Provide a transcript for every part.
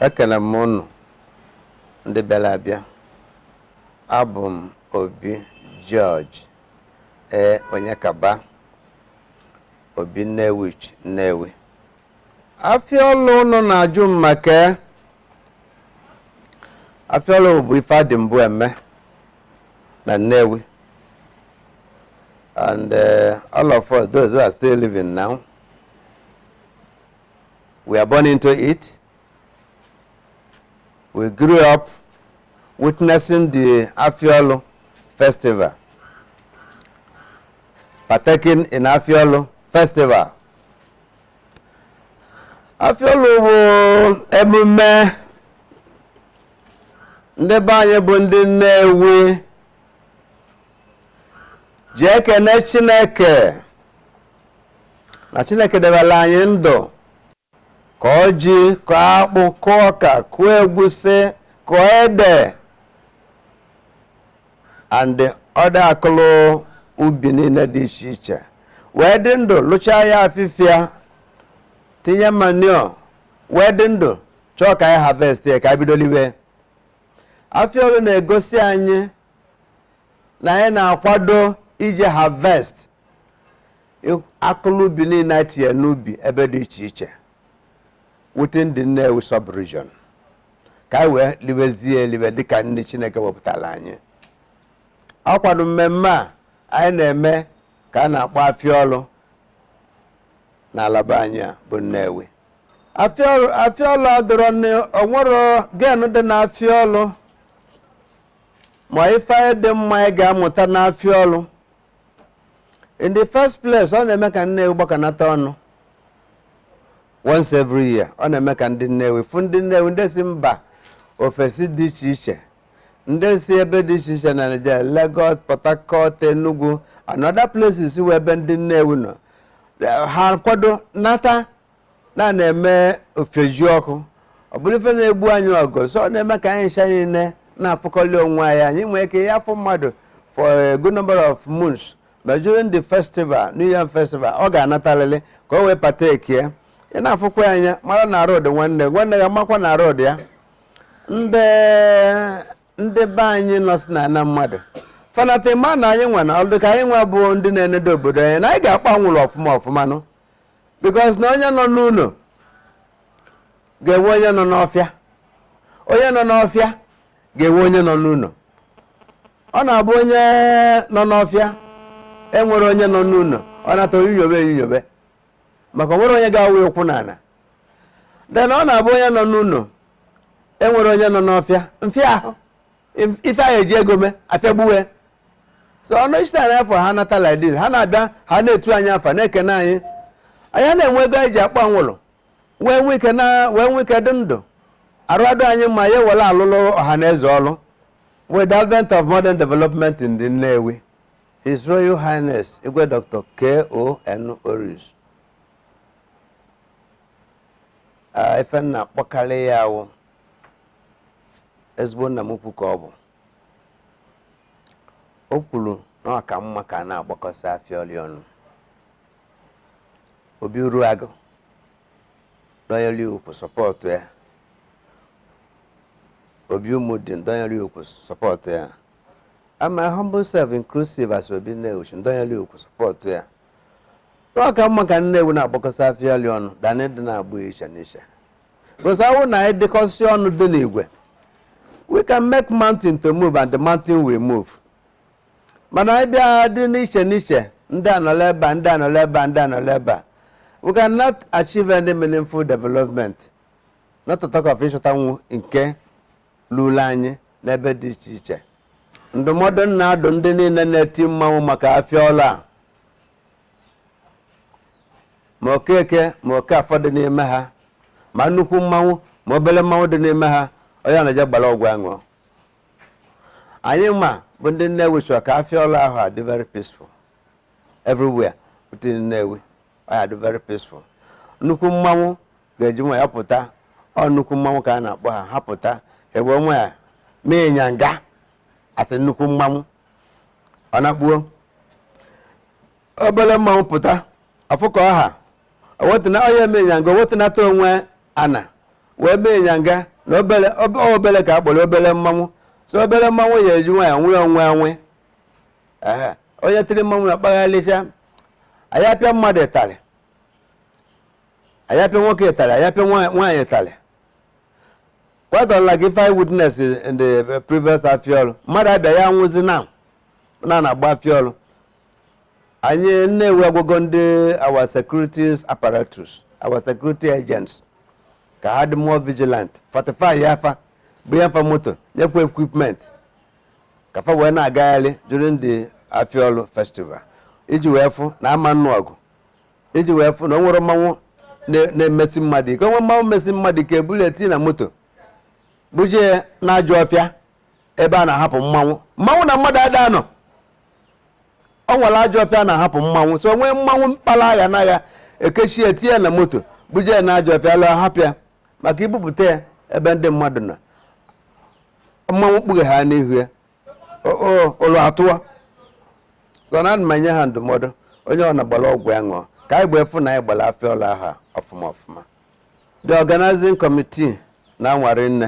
ekele m ụnụ ndị bịara abịa abụ m obi George ee Onyekaba obi Nnewichi Nnewi afịọlụ ụnụ na-ajụ m maka ya. afịọlụ bụ ife a dị mbụ eme na Nnewi and uh, all of us those who are still living now we are born into it we grew up witnessing the afịọlụ festival partaking in afịọlụ festival afịọlụ bụ emume ndị be anyị bụ ndị nnewi ji ekene chineke na chineke debere anyị ndụ kọọ ji kọọ akpụ kụọ ọka kụọ egwusi kụọ ede and other akụlụ ubi niile dị iche iche wee dị ndụ lụchaa ya afịfịa tinye manure wee dị ndụ chọọ ka anyị harvest ya ka anyị bido liwe afịa ọlụ na-egosi anyị na anyị na-akwado iji harvest akụlụ ubi niile anyị tinye n'ubi ebe dị iche iche within the Nnewi sub-region ka anyị wee libezie elibe dịka nni chineke wepụtara anyị ọ kwanụ mmemme a anyị na-eme ka a na-akpọ afịa ọlụ n'ala be anyị a bụ nnewi afịa ọlụ adịrọ n- o nwerọ gain dị na afịa ọlụ ma ife dị mma anyị ga-amụta n'afịa ọlụ in the first place ọ na-eme ka Nnewi gbakọnata ọnụ once every year ọ na-eme ka ndị Nnewi fụ ndị Nnewi ndị si mba ofesi dị iche iche ndị si ebe dị iche iche na Nigeria Lagos Port Harcourt Enugu and other places where ebe ndị Nnewi nọ ha kwado nata na na-eme ifejiọkụ ọ bụrụ ife na-egbu anyị ọgụ so ọ na-eme ka anyị ncha niile na-afụkọli onwe anyị anyị nwee ike ya afụ mmadụ for a good number of months ma during the festival new yam festival ọ ga-anatalịlị ka o wee partake ya ị na-afụkwa anya mara na road nwanne nwanne ya makwa na road ya ndị ndị be anyị nọ si na ana mmadụ fanata ma na anyị nwa na ọdụ ka anyị nwa bụ ndị na-enedo obodo anyị na anyị ga-akpa anwụrụ ọfụma ọfụma nụ because na onye nọ n'ụlọ ga-enwe onye nọ n'ọfịa onye nọ n'ọfịa ga-enwe onye nọ n'ụlọ ọ na-abụ onye nọ n'ọfịa enwere onye nọ n'ụlọ ọ na-ata onyinyobe enyinyobe maka onwere onye ga-awụ ụkwụ n'ala then ọ na-abụ onye nọ n'ụlọ enwere onye nọ n'ọfịa mfịa ahụ If- ife anyị eji ego mee afịagbuwe so ọnụ ichita anyị afọ ha nata like this ha na-abịa ha na-etu anyị afa na-ekene anyị anyị a na-enwe ego anyị ji akpọ anwụrụ wee nwee ike na wee nwee ike dị ndụ arụ adị anyị mma ya ewere alụlụ ọha na eze ọlụ with the advent of modern development in the Nnewi His Royal Highness Igwe Dr. K.O.N. Orizu, ife m na-akpọkarị ya awụ ezigbo nna m ukwu ka ọ bụ o kwuru na ọ ka mma ka a na-agbakọsị afịa ọlụ ọnụ Obi Uruagu dọnyere ukwu support ya Obi Umudim dọnyere ukwu support ya and my humble self inclusive as Obi Nnewichi dọnyere ukwu support ya na ọ ka mma ka Nnewi na-agbakọsị afịa ọlụ ọnụ than ịdị na-agba iche n'iche Because ọ wụ na anyị dịkọsị ọnụ dị n'igwe we can make mountain to move and the mountain will move. Mana anyị bịa dị n'iche n'iche ndị anọla ebe a ndị anọla ebe a ndị anọla ebe a we cannot achieve any meaningful development not to talk of ịchọtanwu nke lulu anyị n'ebe dị iche iche ndụmọdụ m na-adụ ndị niile na-eti mmanwụ maka afịa ọlụ a ma Okeke ma Okafọ dị n'ime ha ma nnukwu mmanwụ ma obere mmanwụ dị n'ime ha onye anaje gbara ọgwụ aṅụ anyị nwa bụ ndị Nnewi chọrọ ka afịa ọlụ ahụ adị very peaceful everywhere within Nnewi ọ ya-adị very peaceful nnukwu mmanwụ ga-eji nwayọ pụta ọ nnukwu mmanwụ ka a na-akpọ ha ha pụta eji nwayọ mee ịnyanga asị nnukwu mmanwụ ọ na-akpuo obere mmanwụ pụta afụkọ ọha owetụna onye eme ịnyanga o wetunata onwe ana wee mee ịnyanga na obere ob- ọ obere ka a kpọrọ obere mmanwụ so obere mmanwụ ya eji nwayọ nwee onwe onwe Ee, onye tiri mmanwụ na-akpagharịcha a ya-apịa mmadụ ịtarị a ya-apịa nwoke ịtarị a ya-apịa nwa- nwaanyị ịtarị quite unlike ife I witness in the previous afịa ọrụ mmadụ abịa ya nwụzi na na na-agba afịa ọrụ anyị Nnewi agwago ndị our security apparatus our security agents ka ha dị more vigilant fortifyịa fa bunye fa moto nyekwa equipment ka fa wee na-agagharị during the Afịa Ọlụ festival iji wee fụ na a ma nnụ ọgụ iji wee fụ na o nwerọ mmanwụ na-emesi mmadụ ike o nwee mmanwụ mesi mmadụ ike e bulie tii na moto buje n'ajọ ọfịa ebe a na-ahapụ mmanwụ na mmadụ ada anọ o nwere ajọ ọfịa a na-ahapụ mmanwụ so o nwee mmanwụ kpara aghara e kechie ya tinye na moto buje ya na ajọ ọfịa luo hapụ ya maka ibupụta ya ebe ndị mmadụ nọ mmanwụ kpughe ha n'ihu ya O- o- ụlọ atụwa so ana m enye ha ndụmọdụ onye ọ na-agbara ọgwụ ya ṅụọ ka anyị wee fụ na anyị gbara Afịa Ọlụ ahọ a ọfụma ọfụma the organizing committee na-anwa rinne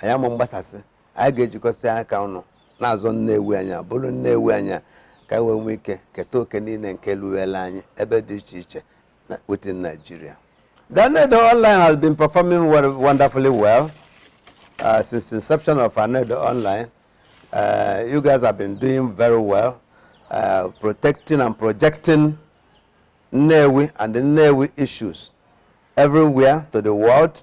anyị ama mgbasasị anyị ga-ejikọsị aka ọnụ na-azọ Nnewi anyị bụrụ Nnewi anyị ka anyị wee nwee ike keta oke niile nke luwela anyị ebe dị iche iche within Nigeria. Anaedo Online has been performing wonderfully well uh, since inception of Anaedo Online. Uh, you guys have been doing very well, uh, protecting and projecting Nnewi and the Nnewi issues everywhere to the world,